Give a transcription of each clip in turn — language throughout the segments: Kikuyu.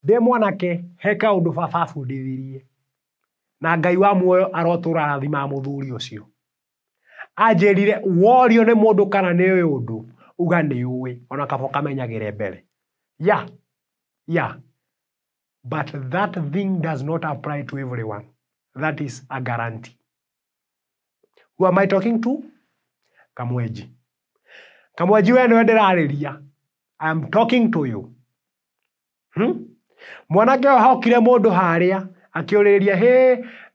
ndĩ mwanake he kaũndũ baba abundithirie na ngai wa muoyo arotũra arathimaga mũthuri ũcio anjĩrire worio nĩ mũndũ kana nĩ ũyũ ũndũ uga nĩ ũĩ ona kaba ũkamenyagĩre mbere ya ya but that thing does not apply to everyone that is a guarantee who am i talking to kamwenji kamwenji we nĩwe ndĩrarĩria i am talking to you Hmm? Mwanake ũyũ hokire mũndũ harĩa akĩũrĩrĩria hĩ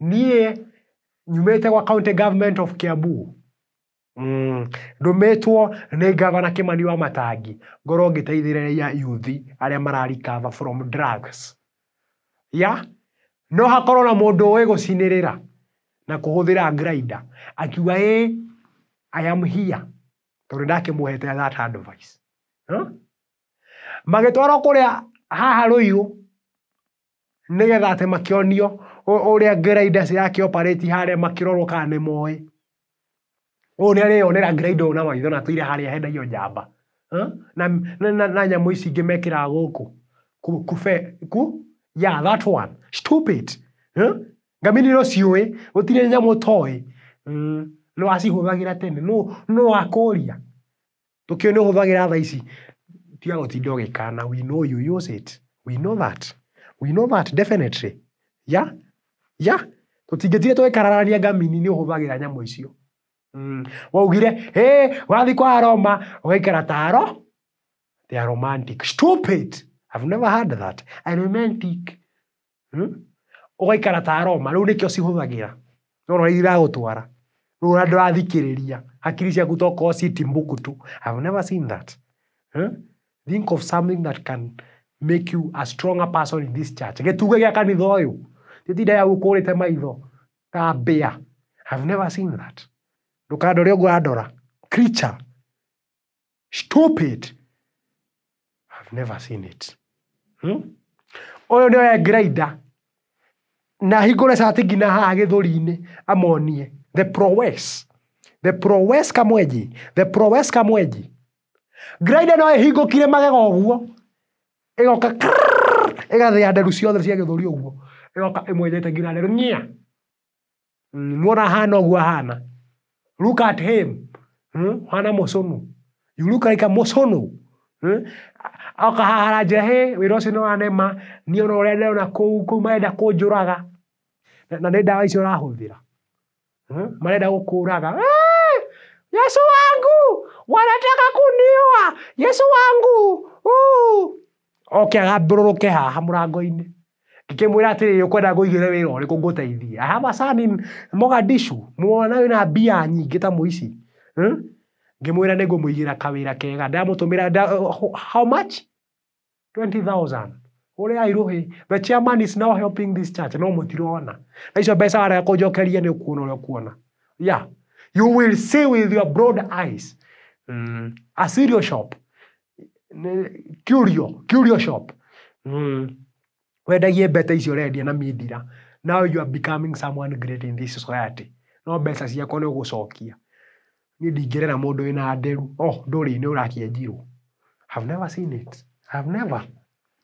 niĩ nyumĩte gwa county government of Kiambu Mm. ndũmĩtwo nĩ gavana Kimani wa Matangi ngorwo ngĩteithĩrĩria yuthi arĩa mararikava from drugs ya no hakorwo na mũndũ ũĩ gũcinĩrĩra na kũhũthĩra grinder akiuga ĩ I am here tondũ ndakĩmũhete that advice huh? magĩtwarwo kũrĩa haha rũirũ nĩgetha atĩ makĩonio ũrĩa grinders ĩrakĩ operate harĩa makĩrorwo kana nĩmoĩ. Ũũ nĩareyonera grinder ũyũ na maitho na tũire harĩa hendagio njamba na na na nyamũ ici ingĩ mekĩraga gũkũ kũ kũ fe kũ yeah that one stupid ngamĩra iria ũciũĩ gũtirĩ nyamũ ũtoĩ nĩwacihũthagĩra tene nũ nũ wakũria. Tũkĩũi nĩ ũhũthagĩra thaa ici, tiga gũtinda ũgĩkana, we know you use it, we know that, we know that definitely, yeah, yeah, tũtingĩtinda tũgĩkararania ngamini nĩ ũhũthagĩra nyamũ icio. Waugire, hĩ, wathiĩ kwa Aroma, ũgaikara ta aro, they are romantic, stupid, I've never heard that, a romantic, Hmm? Ũgaikara ta aroma, rĩu nĩkĩo cihũthagĩra. Nona ũrĩa iragũtwara. Rĩu ona ndũrathikĩrĩria. Hakiri ciaku tokorwo ci Timbuktu. I've never seen that. Hmm? Think of something that can make you a stronger person in this church. Gĩtuge gĩa kanitha ũyũ. Gĩtinda ya gũkũrĩte maitho ta mbĩa. I've never seen that. Ndũkandore ũguo andora. Creature. stupid I've never seen it hmm? ũyũ nĩ oya grinder na hingũre cati nginya haha gĩthũri-inĩ amonie the prowess the prowess kamwenji the prowess kamwenji grinder no ĩhingũkire magega ũguo ĩgoka krrrr, ĩgathĩa nderu ciothe cia gĩthũri ũguo ĩgoka ĩmwenjete nginya nderu ng'ia Mm, Mwona hana ũguo hana. Look at him. Mm, Hana mũcũnũ. You look like a mũcũnũ. Mm, Oka haha aranjĩra hĩ wĩra ũcio nĩ wanema niĩ ona ũrĩa ndĩrona kũu kũu marenda kũnjũraga na na nĩ ndawa icio ũrahũthĩra. Mm, Marenda gũkũraga. "Eh, Yesu wangu wanataka kuniua. Yesu wangu. Uh." oke agambũrũrũke haha mũrango-inĩ ngĩkĩmwĩra atĩrĩrĩ ũkwenda ngũigĩre wĩra ũrĩkũ ngũteithie aha macani mogadishu muona wĩna mbia nyingĩ ta mũici hmm? ngĩmwĩra nĩ ngũmũigĩra kawĩra kega ndamũtũmĩra nda, ho- how much 20000 ũrĩa airũhĩ the chairman is now helping this church no mũtirona na icio mbeca warega kũnjokeria nĩ ũkuona ũrĩa ũkuona yeah you will see with your broad eyes mm. a cereal shop curio, curio shop, wendagie mbete icio ũrendia na mindira, now you are becoming someone great in this society, no mbeca ciakwa nĩ ũgũcokia. Niĩ ndingĩrera mũndũ wĩna nderu, oh ndũrĩ-inĩ ũrakĩenjirwo, I have never seen it, I have never.